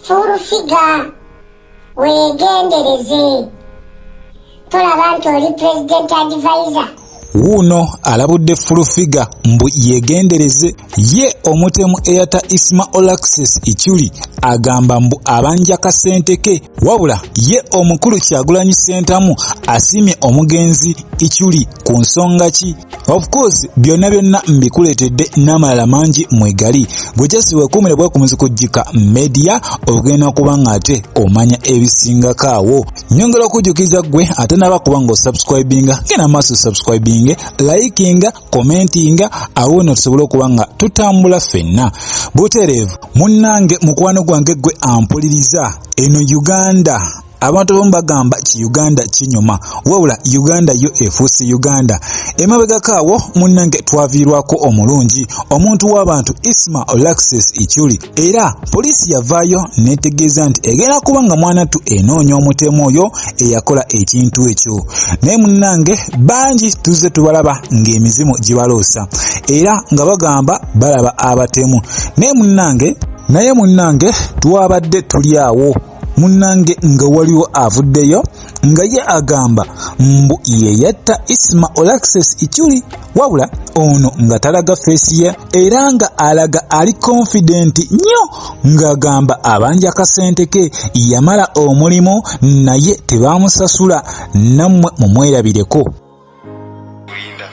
furufiga weegendereze tolaba nti oli president advisor wuuno alabudde fulufiga mbu yegendereze ye omutemu eyata isma olaxes ichuli agamba mbu abanja kasente ke wabula ye omukulu kyagulanyi sentamu asiimye omugenzi ichuli ku nsonga ki of course byonna byonna mbikuleetedde n'amalala mangi mwegali gwe just wekuumire bwekumuzi kujjika media ogenda kuba nga ate omanya ebisingako awo nyongera okujjukiza gwe ate naba kuba nga osubscribinga genda maaso subscribinge likinga commentinga awo no tusobole okuba nga tutambula ffenna butereevu munnange mukwano gwange gwe ampuliriza eno uganda abantu abamu bagamba ki uganda kinyuma wabula uganda yo efuusi uganda emabegako awo munnange twaviirwako omulungi omuntu w'abantu isma olaxis ichuli era poliisi yavaayo netegeeza nti egenda kuba nga mwanattu enoonya omutemu oyo eyakola ekintu ekyo naye munnange bangi tuzze tubalaba ng'emizimu gibaloosa era nga bagamba balaba abatemu naye munnange naye munnange twabadde tuli awo munnange nga waliwo avuddeyo nga ye agamba mbu yeyatta isma olaxes ichuli wabula ono nga talaga feesi ye era nga alaga ali konfidenti nnyo ng'agamba abanja kasente ke yamala omulimu naye tebaamusasula nammwe mumwerabireko kulinda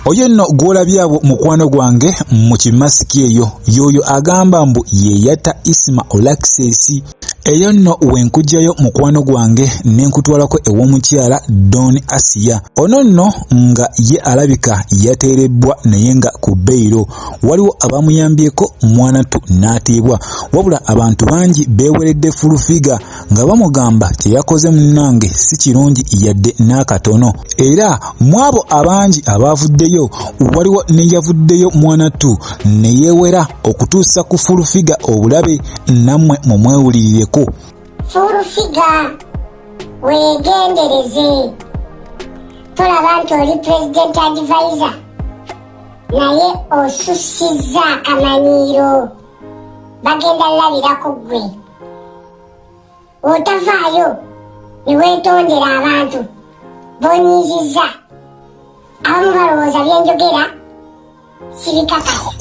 oyo nno gw'olabyabo mukwano gwange mu kimasiki eyo yoyo agamba mbu yeyatta isima olakisesi eyo nno wenkugyayo mukwano gwange ne nkutwalako ew'omukyala don asiya ono nno nga ye alabika yateerebbwa naye nga ku beyiro waliwo abamuyambyeko mwanattu n'atiibwa wabula abantu bangi beeweredde fulufiga nga bamugamba kye yakoze munnange si kirungi yadde n'akatono era mu abo abangi abaavuddeyo waliwo ne yavuddeyo mwanattu ne yeewera okutuusa ku fulufiga obulabe nammwe mu mwewulirireko fulufiga weegendereze tolaba nti oli pulezidenti advisor naye osussizza akamanyiiro bagenda labira ku ggwe otavaayo ne weetondera abantu bonyiizizza abamu balowooza byenjogera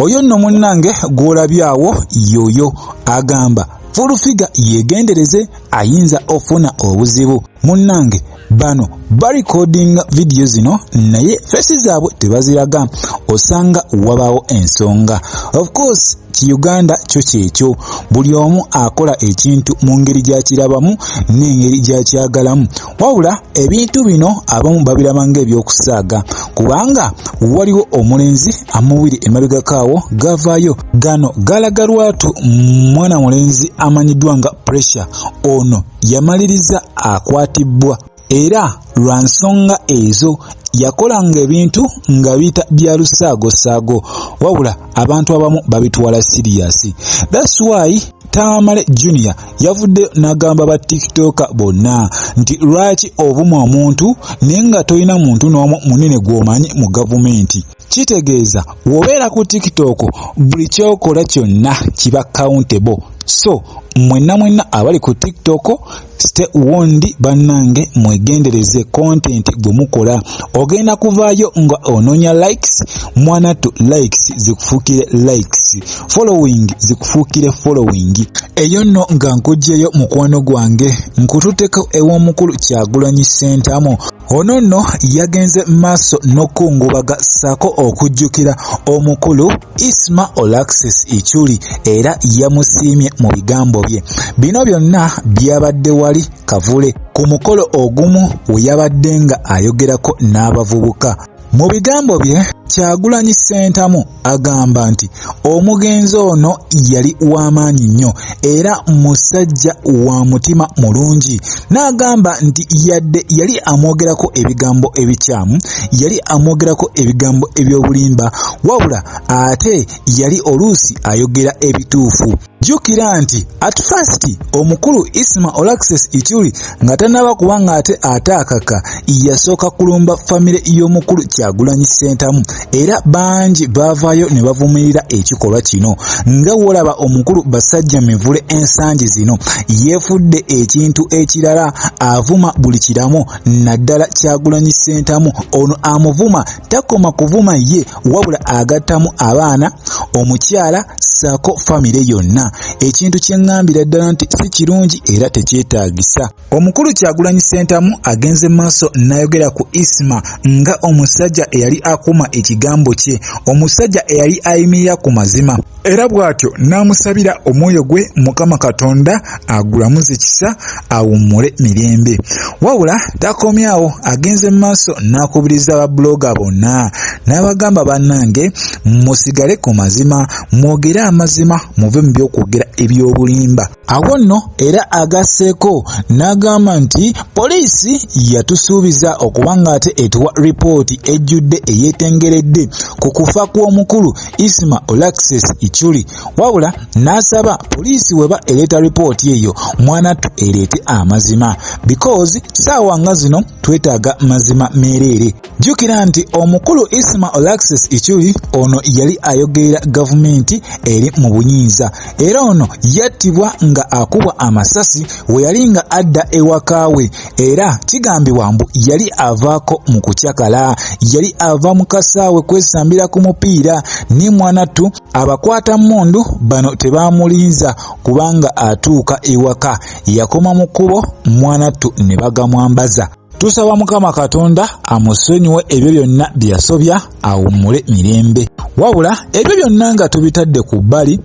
oyo nno munnange gw'olabye awo yoyo agamba fulufiga yeegendereze ayinza ofuna obuzibu munnange bano barikodinga vidiyo zino naye fesi zaabwe tebaziraga osanga wabaawo ensonga of course ki uganda kyo kyekyo buli omu akola ekintu mu ngeri gyakirabamu n'engeri gyakyagalamu wabula ebintu bino abamu babiraba ngaebyokusaaga kubanga waliwo omulenzi amubiri emabegakaawo gavaayo gano galaga lwatu mwana mulenzi amanyiddwa nga pressure ono yamaliriza akwatibbwa era lwa nsonga ezo yakolanga ebintu nga biyita bya lusaagosaago wabula abantu abamu babitwala siriyasi thats why tamale junior yavudde n'agamba ba tiktoka bonna nti lwaki obumu omuntu naye nga tolina muntu n'omu munene gw'omanyi mu gavumenti Kitegeeza wobeera ku TikTok buli kyokola kyonna kiba countable so mwenna mwenna abali ku TikTok stay warned bannange mwegendereze content gwe mukola ogenda kuvaayo nga onoonya likes mwanattu likes zikufuukire likes following zikufuukire following eyo nno nga nkugyeyo mukwano gwange nkututeko ew'omukulu kyagulanyi sentamu Ono nno yagenze maaso n'okukungubaga ssaako okujjukira omukulu Isma Olaxes Ichuli era yamusiimye mu bigambo bye. Bino byonna byabadde wali Kavule ku mukolo ogumu we yabadde nga ayogerako n'abavubuka. Mu bigambo bye Kyagulanyi Ssentamu agamba nti omugenzi ono yali w'amaanyi nnyo era musajja wa mutima mulungi n'agamba nti yadde yali amwogerako ebigambo ebikyamu yali amwogerako ebigambo eby'obulimba wabula ate yali oluusi ayogera ebituufu Jjukira nti at first omukulu Isma Olaxes Ichuli nga tanaba kuba ng'ate ataakaka yasooka kulumba famire y'omukulu Kyagulanyi Ssentamu era bangi baavaayo ne bavumirira ekikolwa kino nga wolaba omukulu Basajja Mivule ensangi zino yeefudde ekintu ekirala avuma buli kiramu naddala Kyagulanyi Ssentamu ono amuvuma takoma kuvuma ye wabula agattamu abaana omukyala saako famire yonna ekintu kyeŋŋambira ddala nti si kirungi era tekyetaagisa omukulu kyagulanyi ssentamu agenze maaso n'ayogera ku isma nga omusajja eyali akuuma ekigambo kye omusajja eyali ayimirira ku mazima era bw'atyo n'amusabira omwoyo gwe mukama katonda agulamuze kisa awummule mirembe wabula takomyawo agenze mu maaso n'akubiriza babuloga bonna n'abagamba bannange musigale ku mazima mwogere amazima muve mu by'okwogera eby'obulimba Awo nno era agasseeko n'agamba nti poliisi yatusuubiza okuba ng'ate etuwa ripooti ejjudde eyeetengeredde ku kufa kw'omukulu Isma Olaxes Ichuli wabula n'asaba poliisi weba ereeta ripooti eyo mwanattu ereete amazima because saawa nga zino twetaaga mazima meereere. Jjukira nti omukulu Isma Olaxes Ichuli ono yali ayogerera gavumenti eri mu buyinza era ono yattibwa nga akubwa amasasi we yali nga adda ewaka we era kigambibwa mbu yali avaako mu kucakala yali ava mu kasaawe kwesambira ku mupiira ne mwanattu abakwata mmundu bano tebaamulinza kubanga atuuka ewaka yakoma mu kkubo mwanattu ne bagamwambaza. Tusaba Mukama Katonda amusonyiwe ebyo byonna bye yasobya awummule mirembe. Wabula ebyo byonna nga tubitadde ku bbali,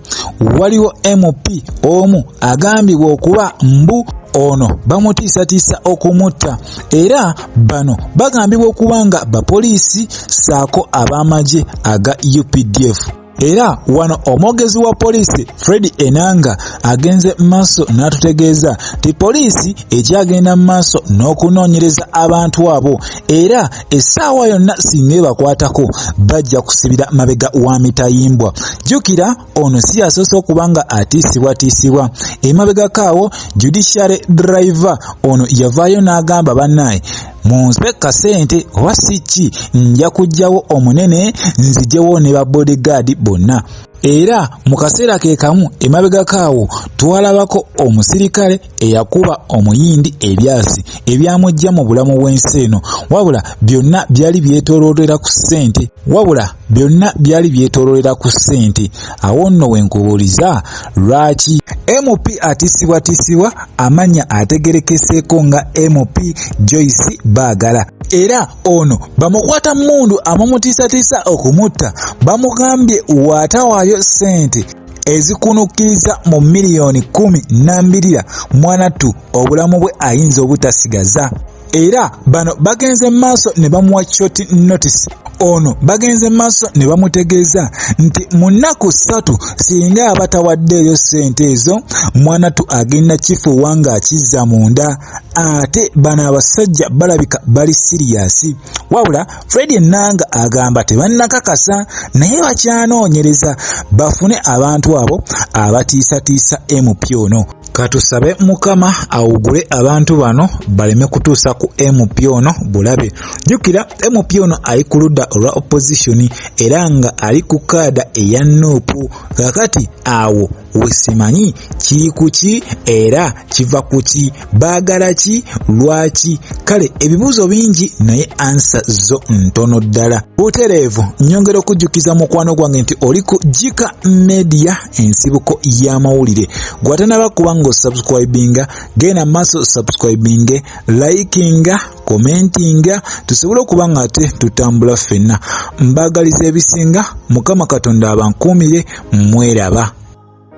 waliwo MP omu agambibwa okuba mbu ono bamutiisatiisa okumutta era bano bagambibwa okuba nga bapoliisi ssaako ab'amagye aga updf. Era wano omwogezi wa poliisi Fred Enanga agenze mu maaso n'atutegeeza nti poliisi ekyagenda mu maaso n'okunoonyereza abantu abo era essaawa yonna singa ebakwatako bajja kusibira mabega wa mitayimbwa. Jjukira ono si yasoose okuba nga atiisibwatiisibwa. Emabegako awo Judiciary Driver ono yavaayo n'agamba bannaye munsibe kasente oba si ki nja kujjawo omunene nzijewo ne ba bodyguard bonna era mu kaseera ke kamu emabegako awo twalabako omusirikale eyakuba omuyindi ebyasi ebyamujja mu bulamu bw'ensi eno wabula byonna byali byetolootera ku ssente wabula byonna byali byetololera ku ssente awo nno wenkubuuliza lwaki mp atisibwatisibwa amanya ategerekeseeko nga mp joyce baagala era ono bamukwata mundu amumutiisatiisa okumutta bamugambye waatawaayo ssente ezikunukkiriza mu miliyoni kumi nambirira mwanattu obulamu bwe ayinza obutasigaza era bano bagenze maaso ne bamuwa short notice ono bagenze maaso ne bamutegeeza nti mu nnaku ssatu singa aba tawaddeeyo ssente ezo mwana tu agenda kifuuwa ng'akizza munda ate bano abasajja balabika bali siriyasi wabula fred enanga agamba tebannakakasa naye bakyanoonyereza bafune abantu abo abatiisatiisa mp ono katusabe mukama awugule abantu bano baleme kutuusa ku mp ono bulabe jjukira mp ono ali ku ludda olwa opozisoni era nga ali ku kaada eya nuupu kakati awo wesimanyi kiri kuki era kiva kuki baagala ki lwaki kale ebibuuzo bingi naye ansa zo ntono ddala butereevu nyongera okujjukiza mukwano gwange nti oli ku jika media ensibuko y'amawulire gwatanaba kuba nga osubscribinga genda maaso subscribinge likinga commentinga tusobole okuba nga ate tutambula ffenna mbaagaliza ebisinga mukama katonda abankuumire mweraba